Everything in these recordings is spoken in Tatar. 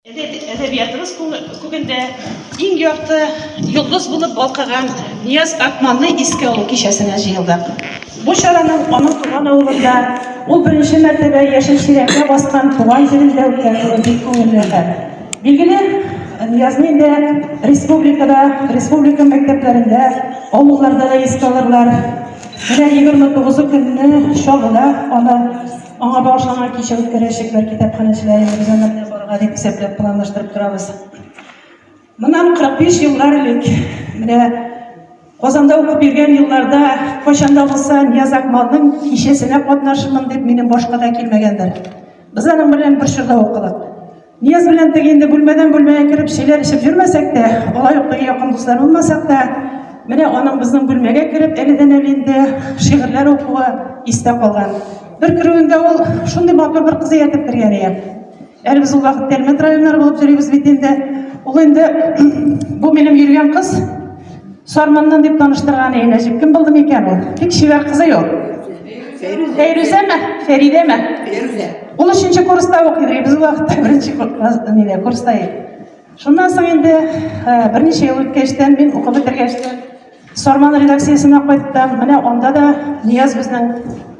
Әдәбиятыбыз күгендә иң якты йолдыз булып балкыган Нияз Акманны искә алу кичәсенә җыелдык. Бу чараның аның туган авылында ул беренче мәртәбә яшел чиләккә баскан туган җирендә үткәрелүе бик күңелле хәл. Билгеле, Ниязны инде республикада, республика мәктәпләрендә, авылларда да искә алырлар. Менә 29 көнне чагына аны Аңа багышланган кичә үткәрәчәк, бер китапханәчеләр инде без аны барырга дип исәпләп планлаштырып торабыз. Моннан 45 еллар элек менә Казанда укып йөргән елларда кайчанда булса Нияз Акмалның кичәсенә катнашырмын дип минем башка да килмәгәндер. Без аның белән бер чорда укыдык. Нияз белән теге инде бүлмәдән бүлмәгә кереп чиләр эчеп йөрмәсәк тә, алай ук теге якын дуслар булмасак та, менә аның безнең бүлмәгә кереп әледән әле инде шигырьләр укуы истә калган. Бер керүендә ул шундый матур бер кыз ияртеп кергән иде. Әле без ул вакытта элемент районнары булып йөрибез бит инде. Ул инде бу минем йөргән кыз Сарманнан дип таныштырган иде. Нәҗип кем булды микән ул? Бик чибәр кызы юк. Фәйрүзәме? Фәридәме? Фәйрүзә. Ул өченче курста укый, без вакытта беренче курста, курста идек. Шуннан соң инде берничә ел үткәчтән мин укып бетергәчтән Сарман редакциясенә кайттым. Менә анда да Нияз безнең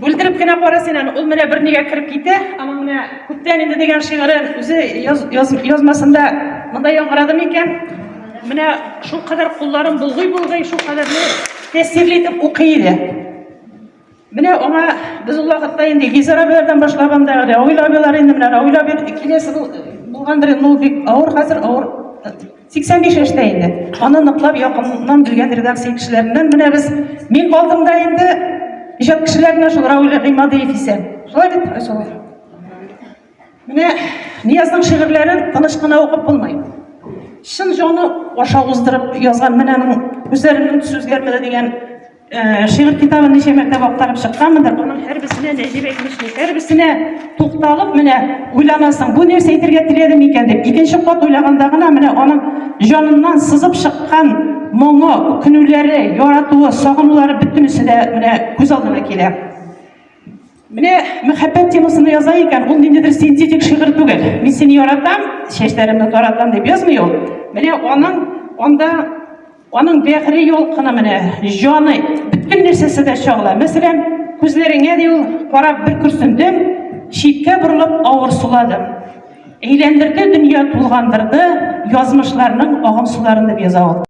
Бүлдереп кенә кара син аны. Ул менә бернигә кереп китә. Аның менә күптән инде дигән шигырен үзе яз, яз, язмасында монда яңгырады микән? Менә шул кадәр кулларын булгый-булгый, шул кадәрле тәэсирле итеп укый иде. Менә аңа без ул вакытта инде Гизар абилардан башлап анда Рауил абилар инде менә Рауил абил киләсе булгандыр инде ул бик авыр хәзер авыр 85 яшьтә инде. Аны ныклап якыннан белгән редакция кешеләреннән менә без мин калдым да инде иҗат кешеләренә шул Рауль Гыймадиев исә. Шулай бит, Айсылу? Менә Ниязның шигырьләрен тыныч кына укып булмый. Чын җаны аша уздырып язган менә аның үзләренең сүзгәрмәде дигән Э, шигырь китабын ничә мәртәбә актарып чыкканмындыр аның һәрберсенә нәҗибә имешли һәрберсенә тукталып менә уйланасың бу нәрсә әйтергә теләде микән дип икенче кат уйлаганда гына менә аның җаныннан сызып чыккан моңы үкенүләре яратуы сагынулары бөтенесе дә менә күз алдына килә Менә мәхәббәт темасына яза икән, ул ниндидер синтетик шигырь түгел. Мин сине яратам, чәчләремне таратам дип язмый ул. Менә аның анда аның бәгъре ялкына менә җаны бөтен нәрсәсе дә чагыла. Мәсәлән, күзләреңә ди ул карап бер күрсендем, читкә борылып авыр суладым. Әйләндерде дөнья тулгандырды, язмышларның агым суларын дип яза ул.